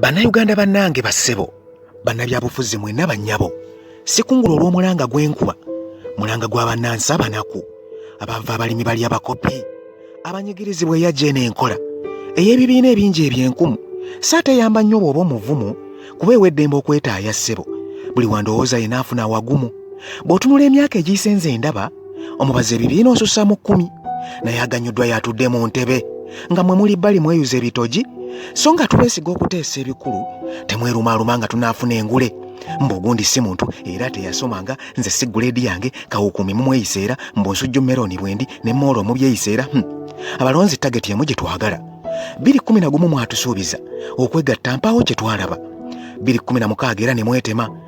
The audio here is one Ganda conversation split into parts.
bannayuganda bannange bassebo bannabyabufuzi mwena bannyabo sikungula olw'omulanga gw'enkuba mulanga gwa bannansi abanaku abava abalimi bali abakopi abanyigirizibwa eyajja eno enkola ey'ebibiina ebingi ebyenkumu saateyamba nnyo bw'oba omuvumu kuba eweddembe okwetaaya ssebo buli wandowooza yena afuna awagumu bw'otunula emyaka egiyisenze endaba omubazi ebibiina osusa mu kkumi naye aganyuddwa yatudde mu ntebe nga mwe muli bbali mweyuza ebitogi so nga twesiga okuteesa ebikulu temwerumaaluma nga tunaafuna engule mbu ogundi si muntu era teyasomanga nze si guleedi yange kawukuumi mumweyisa era mbu nsujju merooni bwendi ne moolo omubyeyisa era hmm. abalonzi tageti emu gye twagala biri kumi na gumu mwatusuubiza okwegatta mpaawo kye twalaba biri kumi na mukaaga era ne mwetema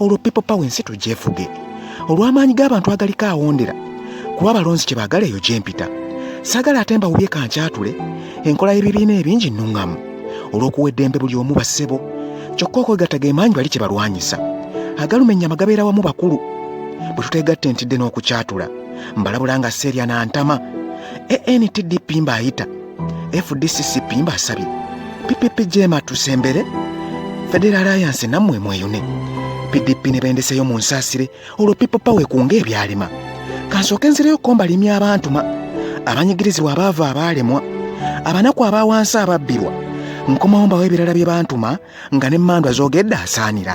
olwo people power ensi tugyefuge olw'amaanyi g'abantu agaliko awondera kuba abalonzi kye baagala eyo gye mpita sagala ate mbawubye kankyatule enkola y'ebibiina ebingi nnuŋŋamu olw'okuwa eddembe buli omu bassebo kyokka okwegatta ge maanyi bali kye balwanyisa agaluma ennyama gabeera wamu bakulu bwe tuteegatta entidde n'okukyatula mbalabula nga seerya na ntama antdp mbaayita fdccp mbasabye ppp jema tusembere federal alliance nammwe mweyune pdp ne bendeseyo mu nsaasire olwo pipo pawe kunga ebyalema kansooke nzireyo kombalimya abantuma abanyigirizibwa abaava abaalemwa abanaku aba wansi ababbirwa nkomawo mbawo ebirala bye bantuma nga ne mandwa zogedde asaanira